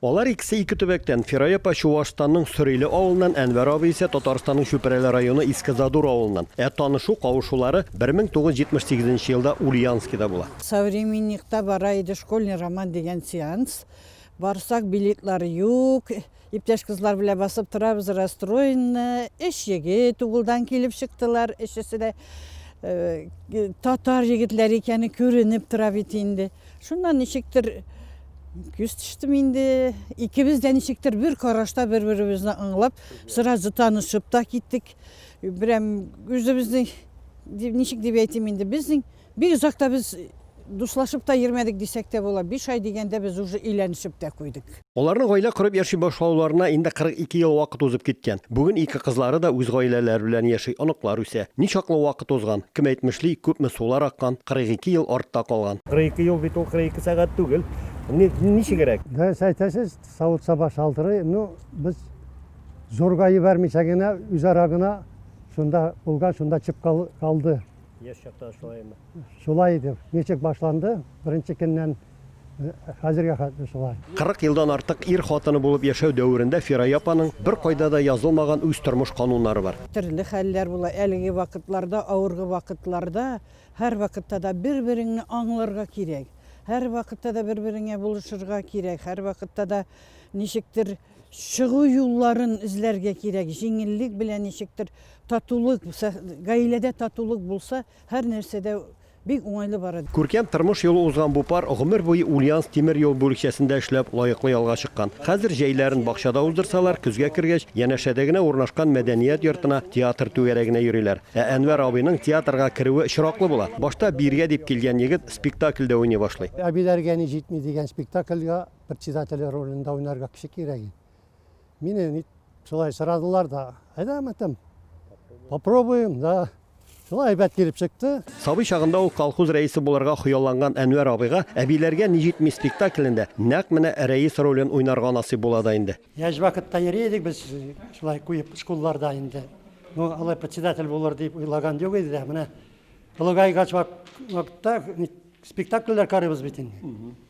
Алар икесе ике төбәктән, Фирай апа Чуашстанның Сөриле авылыннан, Әнвәр абый исә Татарстанның Чүпрәле районы Иске Задур авылыннан. Ә танышу-кавышулары 1978 елда Ульяновскида була. Современникта бара иде Школьный роман дигән сеанс. Барсак, билетлар юк. Иптәш кызлар белән басып торабыз, расстроенны. Өч егет углдан килеп чыктылар, өчесе дә татар егетләре икәне күренеп тора бит инде. Шуннан ничектер күз төштем инде. Икебез дә ничектер бер карашта бер-беребезне аңлап, сразу танышып та киттек. Берәм үзебезнең ничек дип әйтим инде, безнең бик озакта без дуслашып та йөрмәдек дисәк тә була. Биш ай дигәндә без уже өйләнешеп тә куйдык. Аларның гаилә корып яши башлауларына инде 42 ел вакыт узып киткән. Бүген ике кызлары да үз гаиләләре белән яши, оныклар үсә. Ничаклы вакыт узган, кем әйтмешли, күпме сулар аккан, 42 ел артта калган. 42 ел бит ул 42 сәгать түгел. Ни, ничегрәк? Дөрес әйтәсез, савыт-саба шалтырый. Ну, без зурга җибәрмичә генә, үзара гына шунда булган, шунда чып калды. Яшь чакта шулаймы? Шулай иде. Ничек башланды? Беренче көннән Хәзергә хәтле шулай. 40 елдан артык ир хатыны булып яшәү дәверендә Фирая апаның беркайда да язылмаган үз тормыш кануннары бар. Төрле хәлләр була, әлеге вакытларда, авыргы вакытларда, һәрвакытта да бер-береңне аңларга кирәк, һәрвакытта да бер-береңә булышырга кирәк, һәрвакытта да ничектер чыгу юлларын эзләргә кирәк, җиңеллек белән ничектер татулык, гаиләдә татулык булса, һәрнәрсәдә Бик уңайлы бара. Күркәм тормыш юлы узган бу пар гомер буе Ульяновск тимер юл бүлекчәсендә эшләп, лаеклы ялга чыккан. Хәзер җәйләрен бакчада уздырсалар, көзгә кергәч, янәшәдә генә урнашкан мәдәният йортына, театр түгәрәгенә йөриләр. Ә Әнвәр абыйның театрга керүе очраклы була. Башта биргә дип килгән егет спектакльдә уйный башлый. Әбиләргә ни җитми дигән спектакльгә председателе ролендә уйнарга кеше кирәк иде. Мине ник шулай сорадылар да, әйдә мәтәм. Попробуем, да. Шулай әйбәт килеп чыкты. Сабый чагында ук колхоз рәисе булырга хыялланган Әнвәр абыйга әбиләргә ни җитми спектаклендә нәкъ менә рәис ролен уйнарга насыйп була да инде. Яшь вакытта йөри идек без шулай куеп школларда инде. Ну, алай председатель булыр дип уйлаган юк иде дә. Менә Тулыгайгач вакытта спектакльләр карыйбыз бит инде.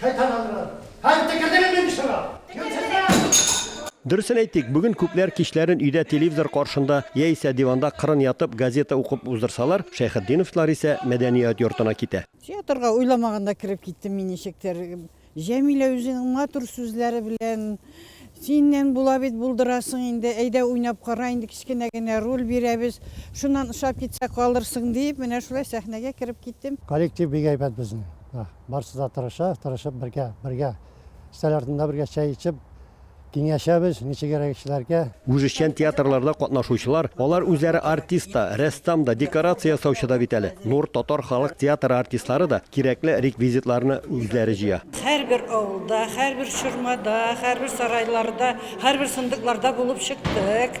Шайтананрар! Һәм текердегем инде чыга! Юньсезләр! Дөресен әйтик, бүген күпләр кичләрен өйдә телевизор каршында яисә диванда кырын ятып газета укып уздырсалар, Шәйхетдиновлар исә мәдәният йортына китә. Театрга уйламаганда кереп киттем мин ничектер. Җәмилә үзенең матур сүзләре белән, Синнән була бит, булдырасың инде, әйдә уйнап кара инде, кечкенә генә роль бирәбез, шуннан ошап китсә калырсың, диеп, менә шулай сәхнәгә кереп киттем. Коллектив бик әйбәт безнең. Барысы да тырыша, тырышып бергә, бергә стәл артында бергә чәй эчеп, киңәшәбез, ничегрәк эшләргә. Үзешчән театрларда катнашучылар, алар үзләре артист та, рәссам да, декорация ясаучы да бит әле. Нур татар халык театры артистлары да кирәкле реквизитларны үзләре җыя. Һәрбер авылда, һәрбер чормада, һәрбер сарайларда, һәрбер сындыкларда булып чыктык.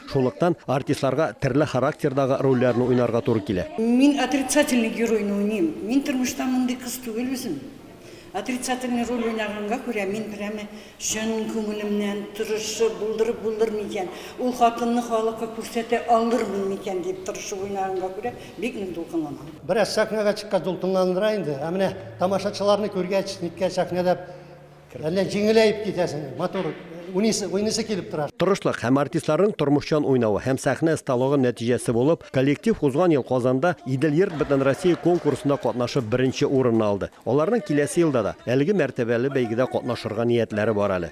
Шунлыктан артистларга терле характердагы рольләрне уйнарга туры килә. Мин отрицательный геройны уйныйм. Мин тормышта мондый кыз түгел үзем. Отрицательный роль уйнаганга күрә мин прямо чын күңелемнән тырышып, булдырып булдыр микән, ул хатынны халыкка күрсәтә алырмын микән дип тырышып уйнаганга күрә бик нык дулкынланам. Бераз сәхнәгә чыккач дулкынландыра инде, ә менә тамашачыларны күргәч, ниткән сәхнәдә Әллә җиңеләеп китәсең, матур уйныйсы, уйныйсы килеп тора. Тырышлык һәм артистларның тормышчан уйнавы һәм сәхнә осталыгы нәтиҗәсе булып, коллектив узган ел Казанда Идел Йорт Бөтенроссия конкурсында катнашып беренче урынны алды. Аларның киләсе елда да әлеге мәртәбәле бәйгедә катнашырга ниятләре бар әле.